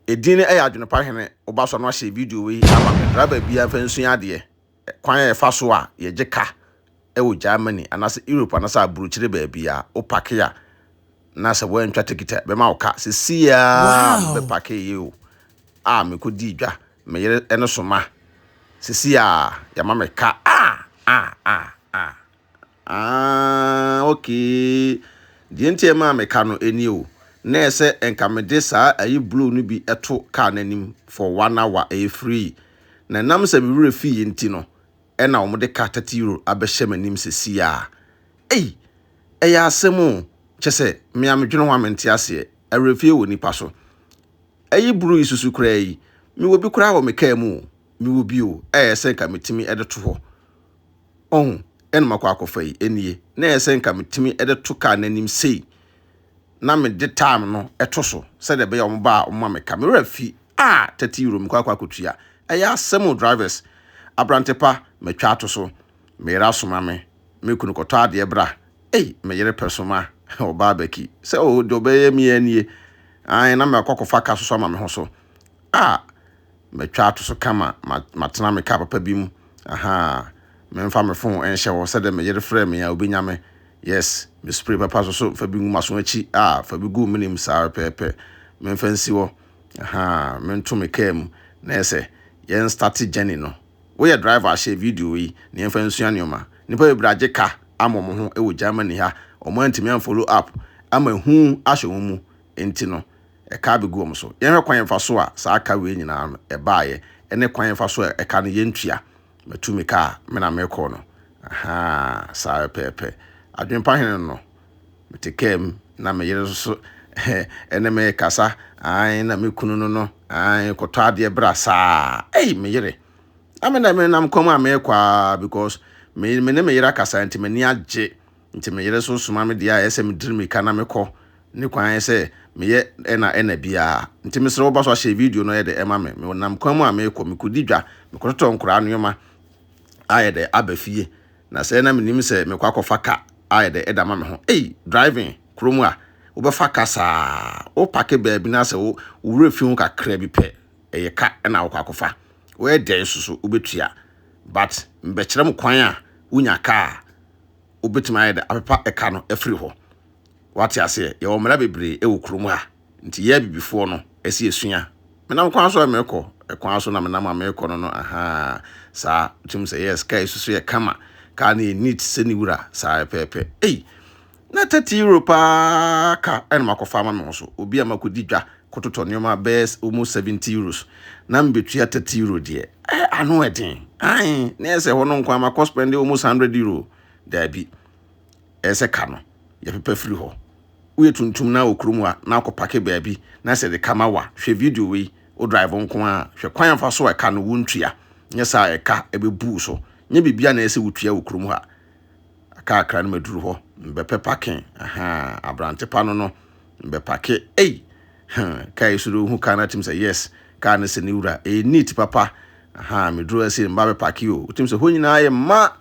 Edin no yɛ Adwenepa Hene Wo Ba So no ahyɛ video wei ama me. Driver biara mfa nsua adeɛ. Kwan a yɛfa so a yɛgye ka wɔ Germany anaasɛ Europe anaasɛ aburokyire baabiara. Wo pake a na sɛ woantwa tekiti a bɛma wo ka. Sesei ara me bɛ pakeeɛ o a mekɔdii dwa. Me yere no soma. Sesei ara yɛama me ka ah ah ah ah. aah okay deɛ nti a ɛmaa me ka no ɛnie o na ɛyɛ sɛ nka me de saa ayi blue no bi ɛto car no anim for one hour ɛyɛ free na ɛnam sɛ me werɛ fi yɛ nti no ɛna wɔn de ka 30 euro abɛhyɛ m'anim sɛsi a ei ɛyɛ asɛm o kyɛ sɛ me a medwene ho a mente aseɛ awerɛfie wɔ nipa so ɛyi blue yi susu koraa yi mewɔ bi koraa wɔ me car mu o mewɔ bi o ɛyɛ sɛ nka metumi ɛde to hɔ Ɔho, ɛna makɔ akɔfa yi, ɛnie, na ɛyɛ sɛ nka metumi de to kaa n'anim sei, na mede time no to so, sɛdeɛ ɛbɛyɛ wɔn ba a wɔn ma me ka. Me werɛ fi, ah, thirty euro mekɔ akɔ akɔtua. Ɛyɛ asɛm o drivers. Abrante pa, matwa ato so. Me yere asoma me, me kunu kɔtɔ adeɛ bra. Ei, me yere pɛ so ma, ɔbaa baki, sɛ oh, deɛ ɔbɛyɛ me yi ɛnie, ae, na makɔ akɔfa ka soso ama me ho so. Ah, Matwa ato so kama, ma matena me kaa papa bi mu, ahaa, Mɛmfa me fon nhyɛ hɔ, sɛdeɛ me yere frɛ me a ɔbɛnya me, yes, me spray papa nso so mfa bi ngu m'aso akyi, ah, fa bi gu wo menem saa ara pɛɛpɛ, Memfa nsi hɔ, ahaa, Mento me kaa mu, na yɛ sɛ yɛn starte journey no, Woyɛ driver a hyɛ video yi na yɛmfa nsua nneɛma, Nnipa bebree agye ka ama wɔn ho wɔ Germany ha, wɔn antumi unfollow app ama hu ahyɛ wɔn mu, nti no, ɛka abegu wɔn so. Yɛnhwɛ kwan a ɛfa so a saa ka wei nyinaa no ɛbaeɛ, ɛne kwan a ɛfa so a ɛka no yɛntua. Matu me ka a me na mekɔ no. Ahaa, saa pɛpɛɛpɛ. Adwene pa hene no, mete kaa mu na me yere nso ɛne me rekasa, aane, na me kunu no no, aane, kɔtɔ adeɛ bra saa. Ei, me yere! Na me na menam kwan mu a merekɔ ara because me ne me yere akasa nti m'ani agye. Nti me yere nso soma me deɛ a ɛyɛ sɛ me diri mirika na me kɔ ne kwan ayɛ sɛ me yɛ ɛna ɛna biaa. Nti me srɛ wo ba so ahyɛ video no yɛ dɛ ɛma me. Me nam kwan mu a meekɔ, me kɔdi dwa, me kɔtɔtɔ nkoraa nnoɔma a yɛ dɛ aba fie na sɛ na me nim sɛ me kɔ akɔ fa ka a yɛ dɛ ɛda ma me ho. Ei driving kuro mu a wo bɛ fa ka saa wo pake baabi na sɛ wo wura fi ho kakra bi pɛ ɛyɛ ka ɛna wo kɔ akɔ fa wo yɛ dɛ nso so wo bɛ tua but me bɛ kyerɛ mo kwan a wo nya ka a wobɛtumi ayɛ dɛ apepa ɛka no afiri hɔ. Wate aseɛ, yɛwɔ mmara bebree wɔ kurom ha, nti yɛ abibifoɔ no, ɛsɛ yɛsua. Menam kwan so a merekɔ, ɛkwan so na menam a merekɔ no no, ahaa, saa, wotim sɛ, yes, kaa yi so so yɛ kama, kaa no yɛ neat sɛ ne wura, saa pɛpɛɛpɛ. Ei! Na 30 euro paa ka ɛna makɔfa ama me ho so, obi a makɔdi dwa, kɔtotɔ nneɛma bɛyɛ almost seventy euros na mebetua thirty euro deɛ eh ano ɛden ae na yɛ sɛ hɔ no nko ama kɔ spend almost hundred euro daabi ɛyɛ sɛ ka no yɛpepa firi hɔ woyɛ tuntum na wɔ kurom a na akɔ pake baabi na sɛ de kama wa hwɛ video wei wo drive nko a hwɛ kwan afa so a ɛka no wontua nyɛ saa ɛka ɛbɛbuu so nyɛ biribi a na ɛyɛ sɛ wotua wɔ kurom ha Akakra no maduru hɔ, mebɛpɛ pake, ahaa, aberante pa no no, mebɛpake, ei, hmm, kaa yi so de ohu kaa no atim sɛ yes, kaa no sɛ ne wura, ɛyɛ neat papa, ahaa, meduru ha sei, meba bɛpake o, wotim sɛ hɔ nyinaa yɛ mma,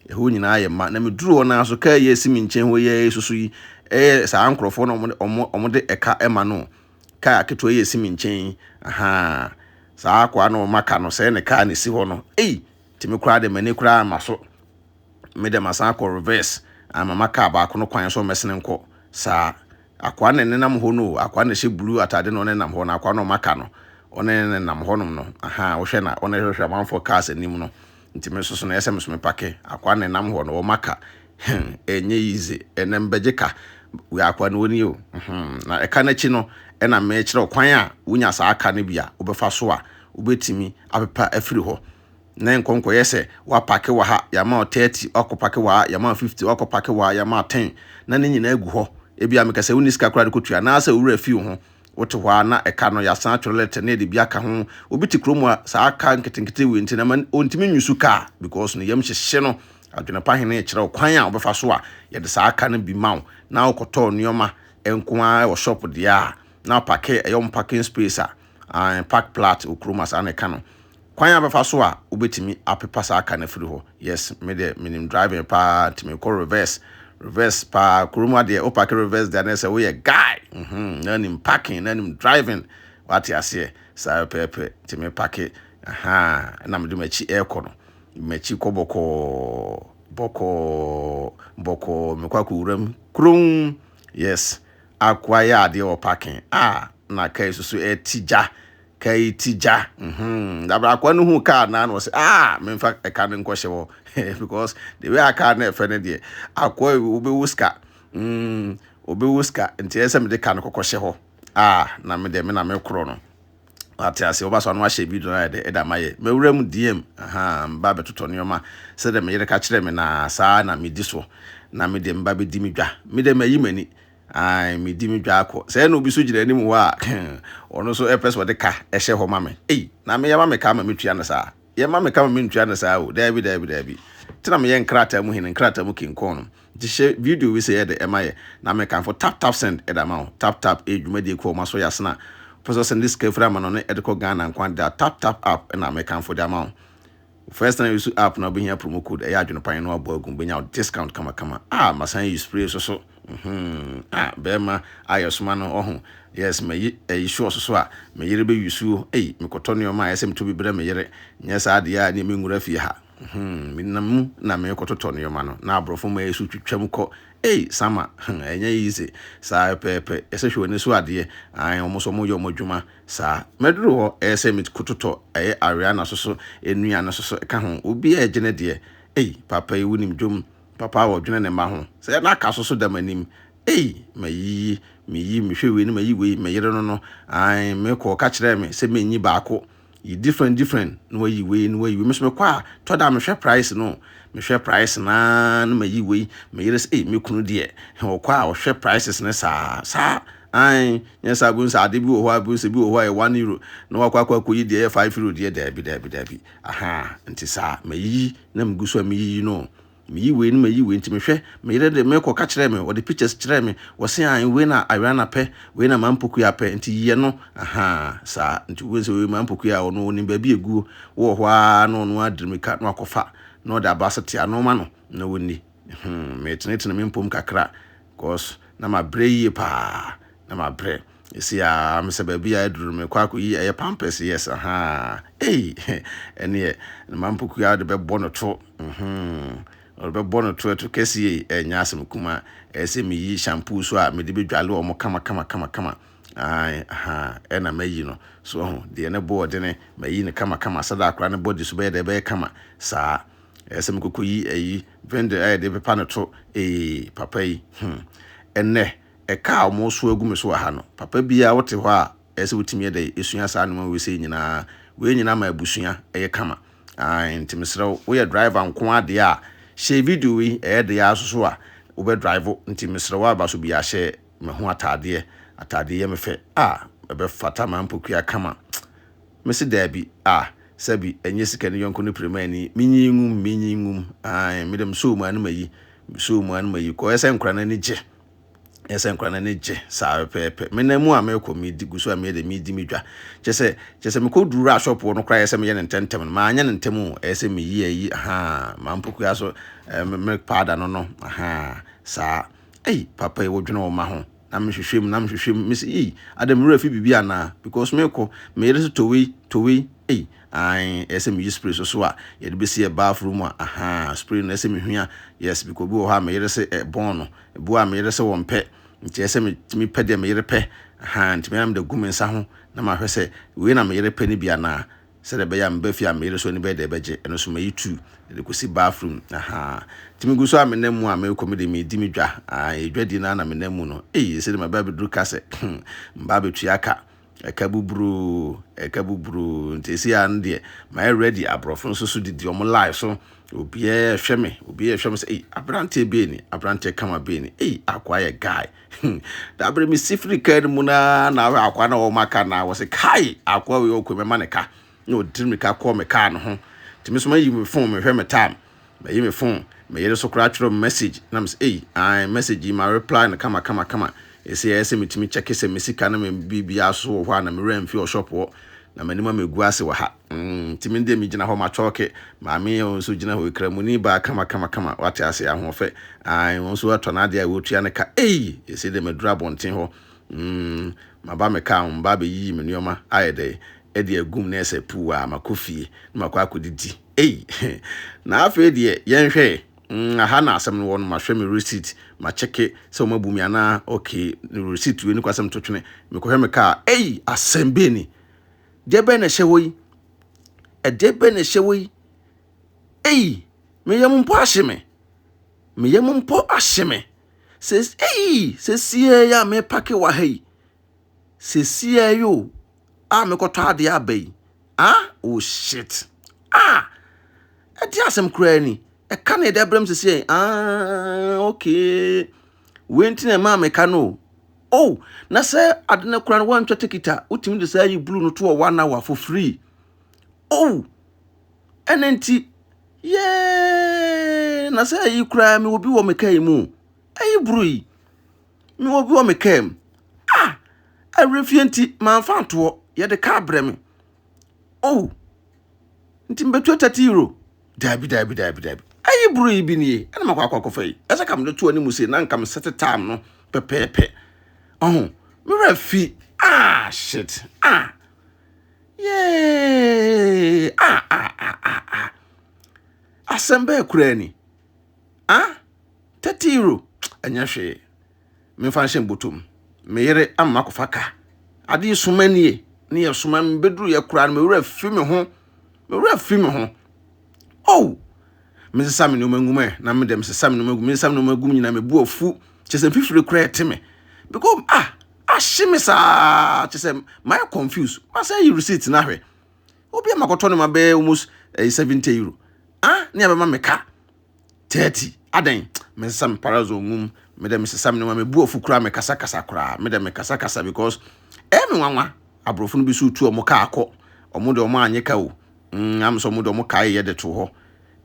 ɛhɔ nyinaa yɛ mma, na meduru hɔ naa so kaa yi asi me nkyɛn hɔ yi a ɛsusu yi, ɛyɛ saa nkorɔfoɔ na wɔde, wɔn, wɔde ɛka ɛma no, kaa aketewa yi asi me nkyɛn yi, ahaa, saa akoa no wɔma ka no, sɛɛ ne kaa na ɛsi hɔ no, ei, Nti me koraa de m'ani koraa mma so, me dɛ masan akɔ reverse ama m'akaa baako no kwan sɛ ɔmmɛsene nkɔ. Saa. Akoa na ɛnenam hɔ no o, akoa na ɛhyɛ blue ataade na ɔnenam hɔ no, akoa na ɔmaka no, ɔne no nenam hɔnom no, ahaa, wohwɛ na ɔne hwɛhwɛ amanfoɔ cars anim no, nti me nso so no ɛyɛ sɛ me nso mepake, akoa na ɛnam hɔ no, ɔmaka, hmm, ɛnyɛ yize, ɛnɛ mbɛgye ka, wei akoa no wɔni o, hmm, na ɛka no akyi no, ɛna mekyerɛ wo kwan a wonya saa ka no bi a wobɛfa so a wobɛtumi apepa afiri hɔ na nkɔ nkɔyɛ sɛ woapake wɔ ha yɛama 30 wakɔpake wɔ ha yɛama 50 wakɔpake wɔ ha yɛama 10 na ne nyinaa gu hɔ ebi a mekɛ sɛ wonni sika koraa de kɔtua anaasɛ owura fi wo ho Wote hɔ ara na ɛka no, yɛasan atwerɛ lɛtɛ na yɛde bi aka ho. Obi te kurom a, saa ka nketenkete wei nti na ɛma ɔntumi nyusu ka because ne yam hyehye no. Adwene pa Hene rekyerɛ wo kwan a wobɛfa so a yɛde saa ka no bi ma wo na wokɔtɔɔ nneɛma nko ara wɔ shop deɛ a, na wopake ɛyɛ wɔn parking space a, ae, park plat wɔ kurom a saa na ɛka no. Kwan a bɛfa so a wobɛtumi apepa saa car no afiri hɔ, yes me deɛ menim driving paa nti mekɔ reverse, reverse paa, kuro mu adeɛ wo parke reverse deɛ na ɛsɛ woyɛ guy, mm-hmm, na nim parking na nim driving, wate aseɛ, saa pɛpɛɛpɛ, nti me parke, ahaa, ɛna mede m'akyi ɛrekɔ no, m'akyi kɔ bɔkɔɔ, bɔkɔɔ, bɔkɔɔ, mekɔ akɔ wura mu, kron, yes, akɔ ayɛ adeɛ wɔ parking, ah, na car yi soso ɛti gya, kai ti gya mhm na brakwa no hu car na na ɔsɛ ah memfa ɛka no nkɔhyɛ wɔ because the way a car no ɛfɛ no deɛ akɔ wobɛwu sika mm wobɛwu sika nti ɛyɛ sɛ mede ka no kɔkɔhyɛ hɔ ah na me deɛ me na mekorɔ no wate ase wɔba so ano ahyɛ bi dɔn ayɛ dɛ ɛda ma yɛ mawura mu diem aha mba bɛtotɔ nneɛma sɛdeɛ meyere ka kyerɛ me na saa na medi so na me deɛ mba bɛdi me dwa me deɛ mayi m'ani Ae, medi me dwa kɔ. Sɛɛ na obi nso gyina anim hɔ a, ɔno nso pɛ sɛ ɔde ka hyɛ hɔ ma me. Ei, na me yɛma me ka ama metua no saa? Yɛma me ka ma mentua no saa o. Daabi, daabi, daabi. Te na meyɛ nkrataa mu hene, nkrataa mu king kong no. Nti hyɛ video wei sɛɛ de ma yɛ, na mekamfo tap tap send de ama wo. Tap tap yɛ dwumadie kɔ wɔn aso yasena. Wopɛ sɛ ɔsɛnde sika firi Amanɔne de kɔ Ghana nko ade a, tap tap app na mekamfo de ama wo. First time use app na wobɛhia promo code ɛyɛ adwene pan no abɔ agu wobɛnya wo discount kamakama ah masan use spray so so mhm ah bɛrima a yɛsoma no ɔho yes mayi ɛyi sure so so a me yere bɛ use o ei mekɔtɔ nneɛma a ɛyɛ sɛ metɔ bi brɛ me yere nyɛ saa deɛ a ne menwura fie ha mhm menam mu na mekɔtotɔ nneɛma no na aborɔfo ma yɛ so twitwam kɔ ei sama hmm ɛnyɛ easy saa pɛpɛpɛ yɛsɛ hwɛ w'ani so adeɛ ae wɔn nso wɔyɛ wɔn adwuma Saa. Mɛduru hɔ, ɛyɛ sɛ mekototɔ, ɛyɛ Ariana so so, Nua no so so, ka ho. Obiara regye ne deɛ. Ei, papa yi wonim dwom. Papa a ɔdwene ne mma ho. Sɛ na aka so so da m'anim. Ei, mayiyi, meyi, mehwɛ wei na mayi wei, me yere no no, ae, mekɔ, ɔka kyerɛɛ me sɛ menyi baako. Yi different different, na wayi wei, na wayi wei. Me nso mekɔ a, tɔ da a mehwɛ price no o. Mehwɛ price no ara na mayi wei. Me yere sɛ, ei, me kunu deɛ, he, ɔkɔ a ɔhwɛ prices no saa, saa, Aane, nyɛ saa bohu sɛ ade bi wɔ hɔ a bohu sɛ bi wɔ hɔ a ɛyɛ one euro na wakɔ akɔ akɔyi deɛ ɛyɛ five euro deɛ daabi daabi daabi ahaa nti saa mayiyi na megu so a meyiyi no meyi wei ne mayi wei nti mehwɛ me yere de mekɔ ka kyerɛ me wɔde pictures kyerɛ me wɔse aane wei na Ariana pɛ wei na Mampokua pɛ nti yiɛ no ahaa saa nti wobɛhu sɛ wei Mampokua a ɔno ɔnim baabi ɛguo wowɔ hɔ aa na ɔno adiri mika na wakɔfa na ɔde aba sɛ te ano ma no na wɔnni hmm, metenetene me mpom kakra cause na mabrɛ yie paa na mabrɛ ɛsi a mesɛ baabi a aduru no mekɔ akɔyi ɛyɛ pampers yes aha ei ɛneɛ ne ma mpokua wode bɛbɔ no to ɔde bɛbɔ no to ɛto kɛsie ɛnyɛ asɛm kuma ɛsɛ meyi shampoo so a mede bɛdwale wɔ mo kama kama kama kama aha ɛna mayi no so ho deɛ ne boɔ dene mayi no kama kama sɛda akora ne bɔde so bɛyɛ dɛ bɛyɛ kama saa ɛsɛ sɛ mekɔkɔ yi ayi vendor a yɛde pepa no to ee papa yi hmm ɛnɛ ɛka a wɔn so agu me so wɔ ha no papa biara wote hɔ a ɛsɛ sɛ wotumi ɛdɛ esua saa nneɛma wei sɛ nyinaa wei nyinaa ma abusua ɛyɛ kama ae nti mesrɛ wo woyɛ driver nko adeɛ a hyɛ video yi ɛyɛ deɛ asoso a wobɛ drive nti mesrɛ wo aba so bi ahyɛ me ho ataadeɛ ataadeɛ yɛ me fɛ a ɛbɛ fata ma mpokua kama Mese daabi, ah, sɛbi, ɛnyɛ sika ne yɔnko ne piremani, menyi ngum, menyi ngum, ae, medɛ mesoo mu ano mayi, mesoo mu ano mayi, kɔ, ɛsɛ nkora no ani gye, ɛsɛ nkora no ani gye, saa pɛpɛɛpɛ, menam mu a mekɔ, medi, gu so a meyɛ dɛ medi me dwa, kyerɛ sɛ, kyerɛ sɛ mekɔ duru a shop wɔ no koraa ɛyɛ sɛ meyɛ no ntɛmntɛm no, manyɛ no ntɛm o, ɛyɛ sɛ meyi ayi, ahaa, maa mpokua so, ɛɛ, me milk powder no no, ahaa, saa, ei, papa yi, wodwene wo mma ho? Na me hwehwɛ mu, na me hwehwɛ mu, me se ei, adɛn me werɛ afi biribi anaa, because me kɔ, me yere se towei, towei, ei, ae, ɛyɛ sɛ me yi spray soso a, yɛde bɛsi ɛ bath room a, ahaa, spray no ɛyɛ sɛ me hua, yes, because obi wɔ hɔ a me yere se ɛ bɔn no, ebi wɔ hɔ a me yere se wɔn pɛ, nti ɛyɛ sɛ me tumi pɛ deɛ me yere pɛ, ahaa, nti me ara me de gu me nsa ho, na ma hwɛ sɛ wei na me yere pɛ no bi anaa. sɛdeɛ ɛbɛyɛ a me ba fie a meyere so ani bɛyɛ dɛ bɛgye, ɛno nso mayi tu de kɔsi bathroom, ahaa, nti megu so a menam mu a merekɔ me deɛ meredi me dwa, aah, ɛyɛ dwadie no ara na menam mu no, ei ɛsɛ dɛ maba abɛduru ka sɛ hmm, mba abɛtua ka, ɛka buburoo, ɛka buburoo, nti ɛsei ara no deɛ mayɛ ready, aborɔfo nso so didi wɔn line so, obiara rehwɛ me, obiara rehwɛ me sɛ ei, aberanteɛ bɛn ni, aberanteɛ kama bɛn ni, ei, akoa yɛ guy. Hmm. Da bere mesi firi kaa no mu no ara na awɛ akoa na wɔn aka na wɔsɛ kae akoa wei ɔkɔ mɛma ne ka na ɔdiri me ka kɔɔ me kaa no ho nti me so mayi me fon mehwɛ me tam mayi me fon me yere so koraa twerɛ me message na mesɛ ei an message yi ma reply no kama kama kama ɛsɛ ɛyɛ sɛ metumi kyɛke sɛ me sika no me biribiara so wɔ hɔ a na me werɛ mfi ɔshop hɔ na m'anim ama ɛgu ase wɔ ha Mm, nti me deɛ megyina hɔ matwɔɔke. Maame yɛ wɔn nso gyina hɔ, Kramoni baa kama kama kama, wate ase, ahoɔfɛ. Ae, wɔn nso atɔ n'adeɛ a wɔretua ne ka. Ei! Ɛsei deɛ maduru abɔnten hɔ. Mm, maba me kaa ho, mebaa bɛyiyii me nneɛma, ayɛ dɛ, ɛde agum na ɛsɛ puu a, makɔ fie, na makɔ akɔdidi. Ei! Na afei deɛ, yɛnhwɛ ɛ, mm, aha na asɛm no wɔ no, mahwɛ me receipt, makyɛke sɛ wɔabu me anaa, okay, receipt wei ni kwan sɛ metotwene, mekɔhwɛ me kaa a, ei! Asɛm bɛn ni? Deɛ bɛn na ɛhyɛ hɔ yi? Ɛdeɛ bɛn na ɛhyɛ hɔ yi? Ei, me yam mpo ahye me. Me yam mpo ahye me. Ses, ei, sesie yi a mepake wɔ ha yi. Sesie yi o, a mekɔtɔ adeɛ aba yi. Ah, oh shit. Ah, ɛde asɛm koraa ni. Ɛka na ɛde abrɛ m sesie. Ah, okay. Wei nti na ɛmaa meka no o. Oh na sɛ ade no kora no woantwa ticket a wotumi de saa yi blue no to wɔ one hour for free oh ɛna nti yee na sɛ ayi koraa mewɔ bi wɔ me kaa mu ayi buru yi mewɔ bi wɔ me kaa mu ah awerɛfie nti mamfa ntoɔ yɛde kaa brɛ me Oh, nti mebɛtua 30 euro? Daabi, daabi, daabi, daabi. Ayi buro yi bi nie, ɛna makɔ akɔ akɔfa yi. Ɛsɛ ka mede to anim sei na nka mesɛte time no pɛpɛɛpɛ. Ɔho, me werɛ fi, ah, shit, ah, yay, ah, ah, ah, ah, ah. Asɛm bɛɛ koraa ni, ah, 30 euro, ɛnyɛ hwee. memfa nhyɛ me bɔtɔ mu. Me yere ama makɔfa ka. Ade yi soma nie, ne yɛ soma me bɛduru yɛ koraa no, me werɛ fi me ho, me werɛ fi me ho. Oh! mesesa me nneɛma ngum ɛ na me dɛ mesesa me nneɛma gu mesesa me nneɛma gu mu nyinaa mebu afu kyɛ sɛ mfifiri koraa ɛte me because ah ahye me saa kyɛ sɛ mayɛ confuse masɛ yi receipt no ahwɛ obi a makɔtɔ no ma bɛyɛ almost ɛyɛ eh, seventy euro ah ne abɛma me ka 30 adɛn me nsesa me parazon ngum me dɛ mesesa me nneɛma mebu afu koraa mekasakasa koraa me dɛ mekasakasa because ɛyɛ me nwanwa aborɔfo no bi so tu ɔmo kaa kɔ ɔmo de ɔmo anye ka o mm am sɛ ɔmo de ɔmo kae yɛ de to hɔ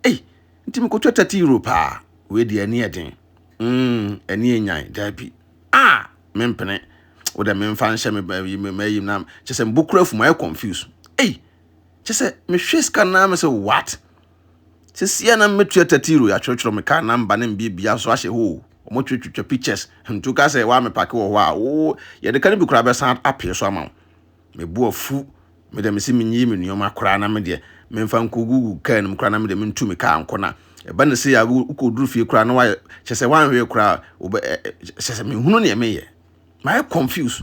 ei nti mekɔtwa 30 euro paa wei deɛ ani ɛden mm ani enyan daabi ah mempene wo dɛ memfa nhyɛ me ba yi me ma yi na kyɛ sɛ mbokura afu ma yɛ confuse ei kyɛ sɛ mehwɛ sika no na mesɛ what Sisiɛ na mɛtua tatiro ya twerɛtwerɛ me car number ne mbie bia nso ahyɛ hoo ɔmo twe twitwa pictures ntu ka sɛ waa me pake wɔ hɔ a woo yɛde ka no bi koraa bɛsan apee so ama wo me bo afu me deɛ mese menyiyi me nnoɔma koraa na me deɛ menfa nko gugu car no mu koraa na me deɛ mentu me car nko na ɛba ne sei a wokɔ duru fie koraa na wayɛ kyɛ sɛ wanwee koraa wobɛ kyɛ sɛ menhunu neɛ meyɛ mayɛ confuse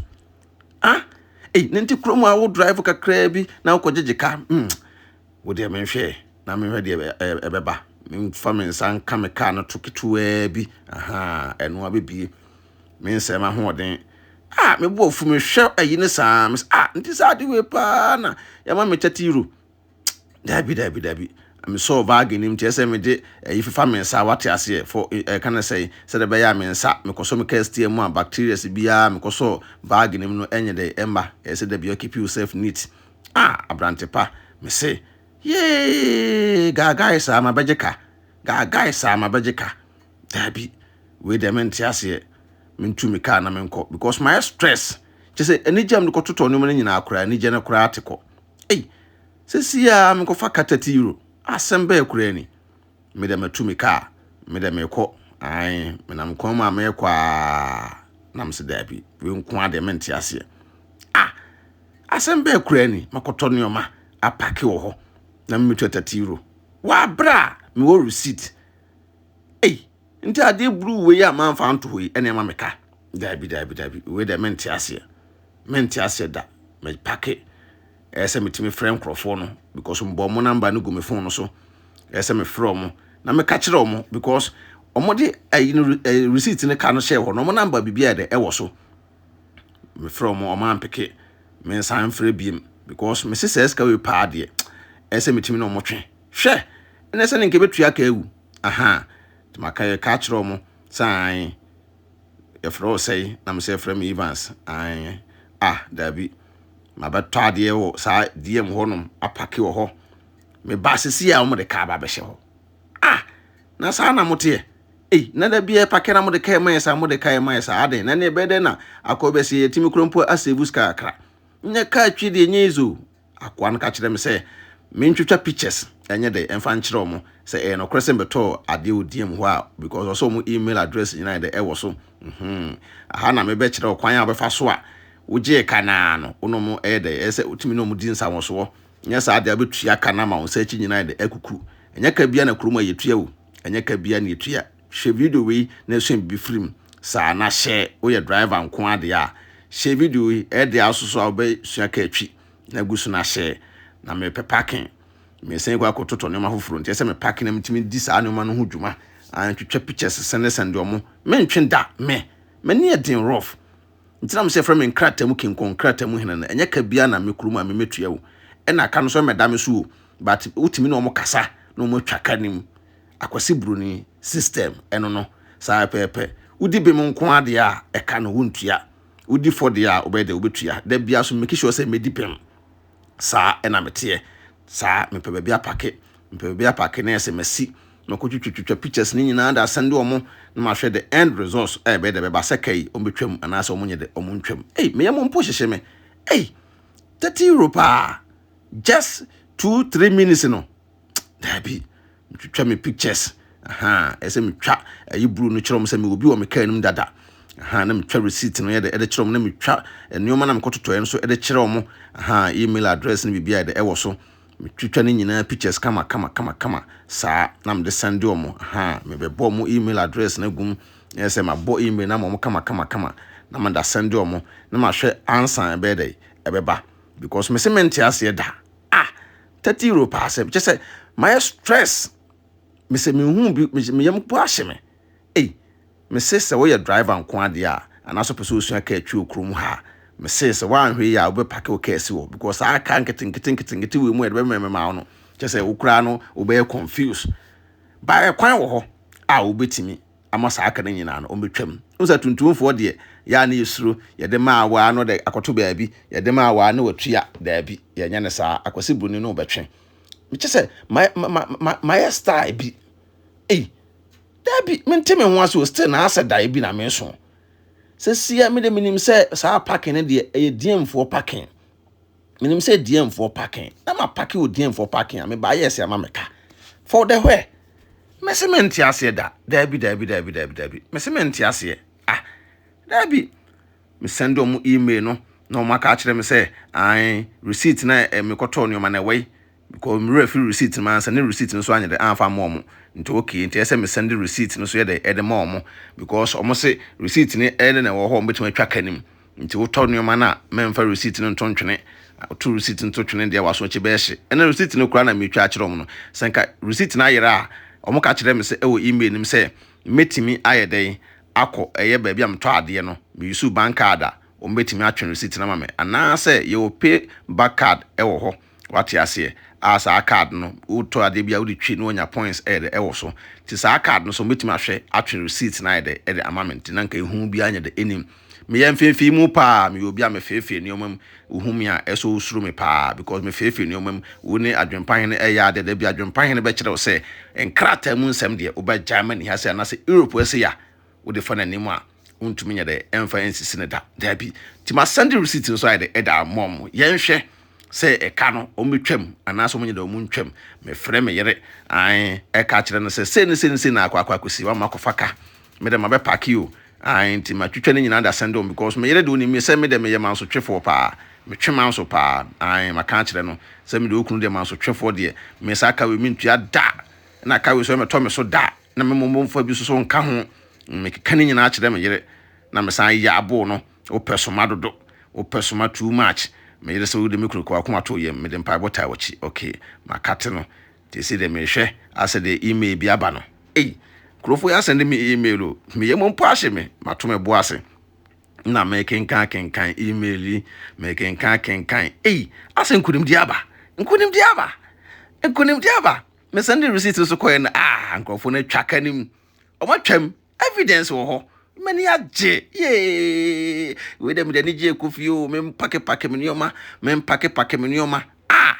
ah ei ne nti kurom a wo drive kakraa bi na wokɔ gyegye ka mm Wo deɛ menhwɛ na menhwɛ deɛ ɛbɛba menfa me nsa nka me kaa no to ketewaa bi ahaa ɛno abɛbie me nsɛe m'ahoɔden a mebɔ afu mehwɛ ayi ne saa mes a nti saa ade wei paa na yɛma me tɛte euro daabi daabi daabi mesɔɔ baage nim kyerɛ sɛ mede ayi fefa me nsa wate aseɛ fo ɛka no sɛe sɛde bɛyɛ a me nsa mekɔsɔ me kastia mu a bacterias biara mekɔsɔɔ baage nim no ɛnyɛ dɛ ɛmma ɛsɛ da bia keep yourself neat Ah, aberante pa, mese, Yee, gaagae saa mabɛgye ka, gaagae saa mabɛgye ka. Daabi, wei deɛ mente aseɛ, mentu me kaa na menkɔ because mayɛ stress. Kyɛ sɛ anigye a mede kɔtotɔ nneɛma no nyinaa koraa, anigye no koraa te kɔ. Ei, sɛsi a menkɔfa ka 30 euro, asɛm bɛɛ koraa ni. me deɛ matu me kaa me deɛ mekɔ ae menam kwan mu a mekɔ aa na mese daabi wei nko adeɛ mente aseɛ ah asɛm bɛɛ koraa ni makɔtɔ nneɛma apake wɔ hɔ na memetua 30 euro wɔabrɛ a mewɔ receipt ei nti adeɛ buru wei a mamfa anto hɔ yi ɛne ɛma meka daabi daabi daabi wei deɛ mente aseɛ mente aseɛ da mepake ɛyɛ sɛ metumi frɛ nkurɔfoɔ no because mbɔ wɔn namba no gu me phone no so ɛyɛ sɛ mefrɛ wɔn na meka kyerɛ wɔn because wɔde ɛyi no ɛɛ receipt no ka no hyɛ hɔ na wɔn namba biribi a yɛ dɛ ɛwɔ so mefrɛ wɔn wɔn ampeke me nsan mfrɛ biem because mesi sɛ ɛsika wei paa deɛ ɛyɛ sɛ metumi na wɔn twe hwɛ ɛna ɛsɛ ne nka ebetua ka ewu aha tuma ka yɛ ka kyerɛ wɔn saan. yɛfrɛ wo sɛe na mesɛ frɛ me Evans ae ah daabi mabɛtɔ adeɛ wɔ saa DM hɔ nom apake wɔ hɔ meba sisi a wɔde kaa ba bɛhyɛ hɔ ah na saa na moteɛ ei na da bi ɛpake na mode kaa ɛma yɛ saa mode kaa ɛma yɛ saa adɛn na ne ɛbɛyɛ dɛn na akɔ bɛsi yɛtumi kura mpo asɛvu sika kakra nyɛ kaa twi deɛ nyɛ izo akoa no ka kyerɛɛ me sɛ mentwitwa pictures ɛnyɛ dɛ ɛmfa nkyerɛ wɔn sɛ ɛyɛ nokorɛ sɛ mbɛtɔɔ adeɛ wɔ DM hɔ a because ɔsɛ wɔn email address nyinaa dɛ ɛwɔ so mhmm aha na mebɛ kyerɛ wo kwan a wobɛfa so a wogyee ka no ara no wo ne wɔn ɛyɛ dɛ ɛyɛ sɛ wotumi ne wɔn di nsawɔsoɔ nyɛ saa deɛ wobɛtua ka no ama wo nsa akyi nyinaa dɛ akukuru ɛnyɛ ka biara na kurom a yɛtua o ɛnyɛ ka biara na yɛtua. Hwɛ video wei na ɛsua biribi firi mu. Saa na hyɛ woyɛ driver nko ara deɛ a, hyɛ video yi, ɛyɛ deɛ aso so a wobɛsua car twi na gu so na hyɛ. Na mepɛ parking, mesan kɔ akɔ totɔ nneɛma foforɔ nti ɛsɛ me parking na metumi di saa nneɛma no ho dwuma. An twitwa pictures sɛne sɛne deɛ ɔmo, mentwe da, me, m'ani yɛ den rough. Nti na mo sɛ ɛfrɛ me nkrataa mu king kong, nkrataa mu hene no, ɛnyɛ ka biara na me kurom a me mɛtua o, ɛna ka no so ɛmɛda me so o, but wotumi ne ɔmo kasa na ɔmo atwa ka no mu. Akwasi Broni system ɛno no saa pɛpɛpɛ wodi bem nko ara deɛ a ɛka no wontua wodi fɔ deɛ a wobɛyɛ dɛ wobɛtua da biara so make sure sɛ medi bem saa ɛna meteɛ saa mepɛ baabi apake mepɛ baabi apake na yɛsɛ masi mako twitwi twitwa pictures ne nyinaa da sɛn de ɔmo na mahwɛ the end results a ɛbɛyɛ dɛ bɛba sɛ kai ɔmo bɛtwam anaasɛ ɔmo nyɛ dɛ ɔmo ntwam ei meyɛ mo mpo hyehye me ei 30 euro paa just 2 3 minutes no Dabi, metwitwa me pictures. Aha, ɛsɛ metwa ɛyi blue no kyerɛ wɔn sɛ mewɔ bi wɔ me kaa no mu dada. Aha, na metwa receipt no yɛ de ɛde kyerɛ wɔn na metwa nneɛma na mekɔtotɔɛ no so ɛde kyerɛ wɔn. Aha, email address no biribi a ɛde ɛwɔ so. Metwitwa ne nyinaa pictures kama kama kama kama saa na mede send wɔn. Aha, mebɛbɔ wɔn email address no agum. Ɛyɛ sɛ mabɔ email na ma wɔn kama kama kama na mada send wɔn na mahwɛ ansa ɛbɛyɛ dɛ ɛbɛba because mese mente aseɛ da. Ah! thirty euro paa sɛ kyɛ sɛ mayɛ stress mesɛ menhu bi meyam po ahye me ei mese sɛ woyɛ driver nko adeɛ a anaasɛ pɛ sɛ osua kaa twi wɔ kurom ha a mese sɛ woanhwɛ yi a wobɛpake wo kaa si hɔ because saa kaa nketenkete nketenkete wei mu a yɛde bɛmɛmɛma wo no kyɛ sɛ wo koraa no wobɛyɛ confuse baɛ kwan wɔ hɔ a wobɛtumi ama saa aka no nyinaa no wɔbɛtwam. Wohu sɛ tuntumfoɔ deɛ yɛ a ne yɛsuro, yɛde ma a waa no dɛ akɔto baabi, yɛde ma a waa ne watua, daabi, yɛnyɛ no saa, akwasi buni no wobɛtwe. Mekyɛ sɛ mayɛ style bi, ei, daabi, mente me ho ase o, still na asɛ dae bi na meso. Sɛsia mede menim sɛ saa parking no deɛ ɛyɛ diemfoɔ parking. menim sɛ diɛmfoɔ pake na ma pake wɔ diɛmfoɔ pake a meba ayɛ sɛ ama meka for the where mese mente aseɛ da daabi daabi daabi daabi daabi mese mente aseɛ ah daabi mesɛnde ɔmo email no na ɔmo aka akyerɛ me sɛ an receipt na eh, mekɔtɔɔ nneɛma na ɛwɔ yi because mmerɛ firi receipt ma ansa ne receipt no so anyɛ dɛ anfa ma ɔmo nti okay nti ɛsɛ mesɛnde receipt no so yɛ dɛ ɛde ma ɔmo because ɔmo se receipt ne ɛne na ɛwɔ hɔ ɔmo betumi atwa ka nim Nti wotɔ nneɛma no a, mɛmfa receipt no nto ntwene. Woto receipt no to twene deɛ w'aso akyi bɛhye. Ɛna receipt no koraa na meretwa akyerɛ wɔn no. Sɛ nka receipt no ayera a, wɔn ka kyerɛ me sɛ ɛwɔ email no mu sɛ mɛtumi ayɛ dɛn akɔ ɛyɛ baabi a metɔ adeɛ no. Me use bank card a, wɔn bɛtumi atwe receipt no ama me. Anaasɛ yɛwɔ pay back card ɛwɔ hɔ. Wate aseɛ? Ah, saa card no, wotɔ adeɛ bi a wode twi na wanya points ayɛ dɛ ɛwɔ so. Nti saa card no sɛ wɔbɛtumi ahwɛ atwe receipt no ayɛ dɛ ɛde ama me nti na nka ehu biara nyɛ dɛ ɛnim. Meyɛ mfeefee mu paa, meyɛ obi a mefeefee nneɛma mu, wohu me a ɛsɛ wosuro me paa because mefeefee nneɛma mu. Wo ne adwempa hene ɛyɛ adeɛ, da bi adwempa hene bɛkyerɛ wo sɛ nkrataa mu nsɛm deɛ wobɛgyae ma ne ha sei anaasɛ Europe ha sei a, wode fa n'anim a wontumi nyɛ dɛ ɛmfa ɛnsisi no da daabi nti ma sɛnde receipt no so ayɛ dɛ ɛda mɔ mo yɛnhwɛ sɛ ɛka no wɔn bɛtwam anaasɛ wɔn nyɛ dɛ wɔn ntwam mefrɛ me yere an ɛka kyerɛ no sɛ sei ne sei ne sei na akɔ akɔ akɔsi wama kɔfa ka me dɛ ma bɛ paaki o an nti ma twitwa ne nyinaa da sɛnde wɔn because me yere de onim sɛ me dɛ meyɛ mansotwefoɔ paa metwe manso paa an maka akyerɛ no sɛ me de okunu deɛ mansotwefoɔ deɛ me nsa aka wei mentua da na aka wei so ɛmɛtɔ me so da Na me mmom momfa bi nso nka ho. Mekeka ne nyinaa kyerɛ me yere, na mesan yɛ abo no. Wopɛ soma dodo. Wopɛ soma too much. Me yere sɛ wode me kunu kɔɔ akoma too yam. Mede mpaebɔ taa w'akyi. Okay, makate no. Nti ɛsei deɛ merehwɛ asɛ deɛ email bi aba no. Ei, nkurɔfoɔ yi asɛn de me email o. Me yam mpo ahye me. Mato me bo ase. Na mekenkan akenkan email yi. Mekenkan akenkan. Ei, asɛ nkonimdie aba. Nkonimdie aba. Nkonimdie aba. Me sɛnde receipt no so kɔɛ no ah nkurɔfoɔ no atwa ka no mu wɔn atwam evidence wɔ hɔ m'ani agye yee wei dɛ mede ani gye ɛkɔ fie o mempakepake me nneɛma mempakepake me nneɛma ah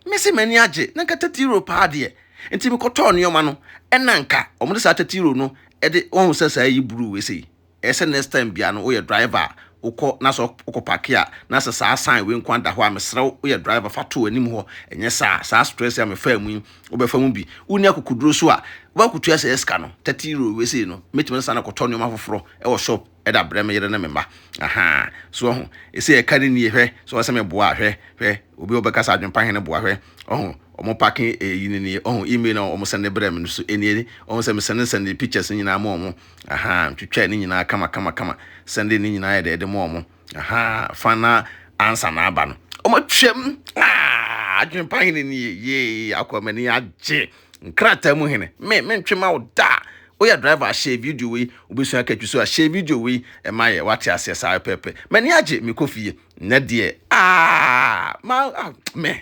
mese m'ani agye na nka tati euro paa deɛ nti mekɔtɔɔ nneɛma no ɛna nka wɔn de saa tati euro no ɛde wɔn sɛ saa yi bruu wei sɛ yi ɛyɛ sɛ next time biara no woyɛ driver a wokɔ na sɛ wokɔ parke a na sɛ saa sign wei nko ada hɔ a mesrɛ wo woyɛ driver fa to w'anim hɔ ɛnyɛ saa saa stress a mefaa mu yi wobɛfa mu bi wonni akokoduro so a wobɛkotua sɛ sika no 30 euro wei sei no mɛtumi no saa na kɔtɔ nneɛma foforɔ ɛwɔ shop ɛda brɛ me yere ne me mma aha so ɔho ɛsɛ ɛka ne nie hwɛ sɛ ɔsɛ me boa hwɛ hwɛ obi ɔbɛka sɛ adwempa hene boa hwɛ ɔho ɔmo pake ɛyi ne nie ɔho email na ɔmo sɛne brɛ me no so ɛnie ɔho sɛ me sɛne sɛne pictures nyinaa ma ɔmo Ahaa twitwaa ne nyinaa kama kama kama sɛn de ne nyinaa yɛ de ɛde ma ɔmo ahaa fa na ansa na aba no ɔmo twɛm aa adwene pa hene ni yɛ yee akɔ mani agye nkrataa mu hene me me ntwe ma wo da woyɛ driver ahyɛ video wei wobɛsua katwi so ahyɛ video wei ɛma yɛ wate aseɛ saa pɛpɛ mani agye mekɔ fie nnɛ deɛ aa ma ah, me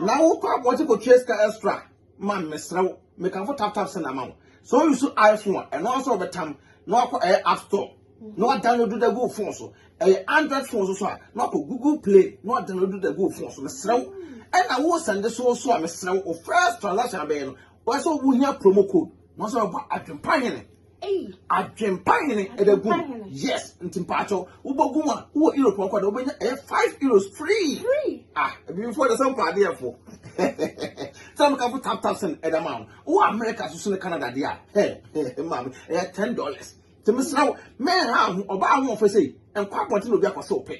na wokɔ abɔnten kɔtua sika extra ma mesrɛ wo mekamfo tap tap send ama wo sɛ woyi so iphone a ɛno nso wɔbɛtam na wakɔ ɛyɛ app store na wadownload da gu phone so ɛyɛ android phone so so a na wakɔ google play na wadownload da gu phone so mesrɛ wo ɛna wo sɛnde so so a mesrɛ wo first transaction abɛyɛ no wɔsɛ wohia promo code na wɔsɛ wɔbɔ adwempa hene Adwempa hene ɛbɛ gu yes nti mpatsɔ wobɔ gu a wowɔ europe ɔkɔ dɛ wobɛnya ɛyɛ five euros free ah ebibifo de sɛ mpa adeɛ fo sɛ mo kafo tap tap sɛn ɛda ma wo wowɔ america soso ne canada deɛ a hɛ hɛ maame ɛyɛ ten dollars nti mesra wo mɛn ha ho ɔbaa ho ɔfɛ sɛ nkɔ abɔnten na obi akɔ sɛ ɔpɛ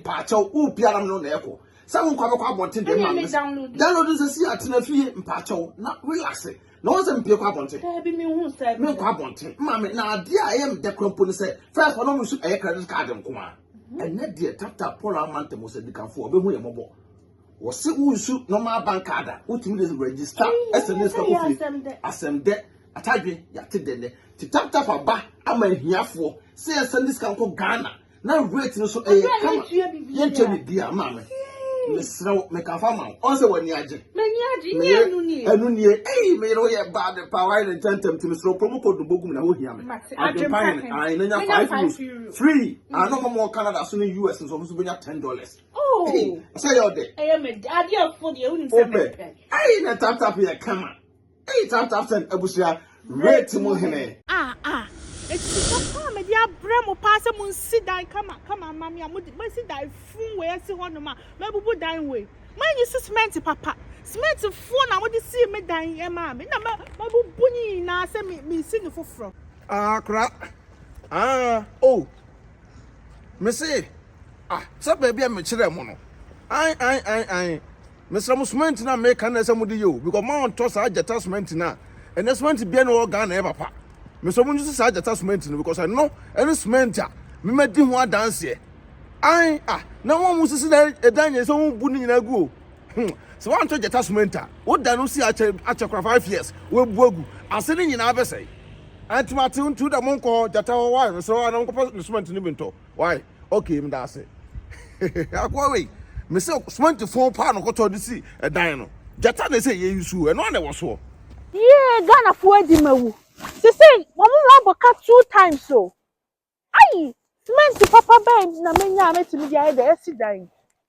mpatsɔ wo biara no na ɛkɔ sɛ wo nkɔ abɛkɔ abɔnten deɛ maame download nsɛ si atena fie mpatsɔ na relax na wɔn sɛ mpie kɔ abɔnten daabi mi hu sɛ mi nkɔ abɔnten mma mi na adeɛ a ɛyɛ mi dɛ kura mpo ne sɛ fɛs wɔn mu nso ɛyɛ credit card nko a mhm. ɛnɛ deɛ tata paul amanta mu sɛ dikanfo ɔbɛhu yɛ mɔbɔ wɔsi wusu normal bank card a wotumi de register ɛsɛ ne sika kofi asɛm dɛ atadwe yate dɛ nɛ te tap tap aba ama ahiafoɔ sɛ yɛsɛ ne sika nkɔ ghana na rate no so ɛyɛ kama yɛntua biribiara maa me mesrɛ wo meka fa ma wo ɔn sɛ w'ani agye ɛno nie ei meyere woyɛ bad pa wayɛ ne ntɛntɛm nti mesrɛ promo code no bɔgum na wohia me adwempa hene ae na nya 5 euros free ano hɔ mɔ canada so ne us nso ɔmo so bɛnya 10 dollars sɛ yɛ ɔdɛ wopɛ ei na taptap yɛ kama Eyi time time send abusua rate mu hene. Ah ah ɛtiri pa pa a mede abrɛ mo paa sɛ mo nsi dan kama kama mma me a mo de mo asi dan fun wei asi hɔ nom a mabubu dan wei mo anyi si cement papa cement foɔ na mo de sii me dan yi ɛmaa me na ma mabubu ne nyinaa sɛ me me si ne foforɔ. Ah kora ah oh me se ah sɛ baabi a me kyerɛ mo no ae ae ae ae. Mesrɛ mo cement no a meka no na ɛsɛ mode yɛ o because mo a ɔntɔ saa gyata cement no a ɛnɛ cement biara ni wɔ Ghana ɛyɛ papa. Mesrɛ mo nyi saa gyata cement no because ɛno ɛne cement a memadi ho adanseɛ. Ae ah na wɔn a wɔsisi na ɛdan nyɛ sɛ wɔn bu ne nyinaa gu o. Hmm sɛ wɔantɔ gyata cement a woda no si akyɛ akyɛ kora five years wɔabu agu ase ne nyinaa bɛsɛe. Anti mate ntu da mo nkɔ gyata hɔ wae mesrɛ wɔn a na wɔnkɔpɛ ne cement no bi ntɔ. Wai okay medase akoa wei. Me se cement fon paa no kɔtɔ de si ɛdan no. Gyata na ɛsɛ yɛyi suo ɛno a na ɛwɔ soɔ. Yee Ghana foɔ adi ma wu. Sesei wɔn ho abɔ ka two times o. Ayi cement papa bɛn na menya a mɛtumi de ayɛ de asi dan yi.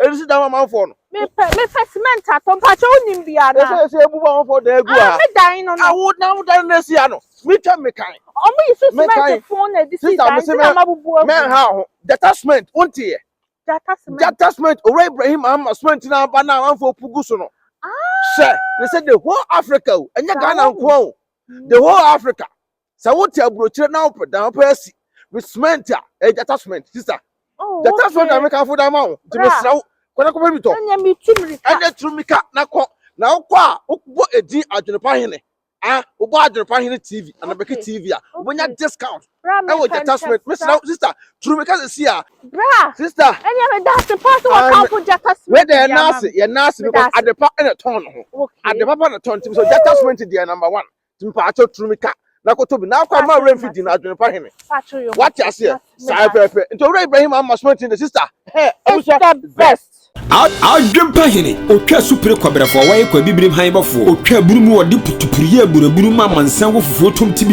Ɛnu si dan amanfoɔ no. Mepɛ mepɛ cement atɔ mpakyɛ wonim bi ana. Ɛsɛ ɛsɛ ebu ba amanfoɔ dan egu ha. Me dan no no. Awo na awo dan no esi ha no. Me twɛ me kan. Ɔmo yi so cement fon na ɛde si dan nti na ma bubu agu. Mɛ ha ho jata cement wonti yɛ. Jata cement. Jata cement owura Ibrahim ama cement na aba na amanfoɔ pugu so no. Hyɛ ne sɛ the whole Africa o ɛnyɛ Ghana nkoa o the whole Africa sɛ wote aburokyire na wopɛ dan wopɛ asi me cement a ɛyɛ gyata cement sista oh, gyata cement na mekamfo da ma wo nti mesrɛ wo kɔda kɔpɛ mi tɔ ɛnɛ turu mika na kɔ na wokɔ a wobɔ edin adwenepa hene a wobɔ adwenepa hene tv anabɛke tv a wobɛnya discount ɛwɔ gyata cement mesrɛ wo sista turu mika sɛ si a sista ɛnɛ meda ase pa sɛ wɔkamfo gyata cement yɛ naase yɛ naase because adepa ɛna tɔn no ho adepa pa na tɔn nti mesɛ gyata cement deɛ number one mpatsɔ turu mi ka na koto bi na akɔ ama awura nfi di na adwene pa hene wate aseɛ saa pɛpɛ nti owura ibrahim ama sumati ne sista hɛ abusua best adwene pa hene otwa supere kɔbrɛfoɔ wɔyɛ kɔ abibirim han bɔfoɔ otwa aburu mu wɔde putupuruyɛ aburaburu ma amansan wɔ fufuo tom ti bi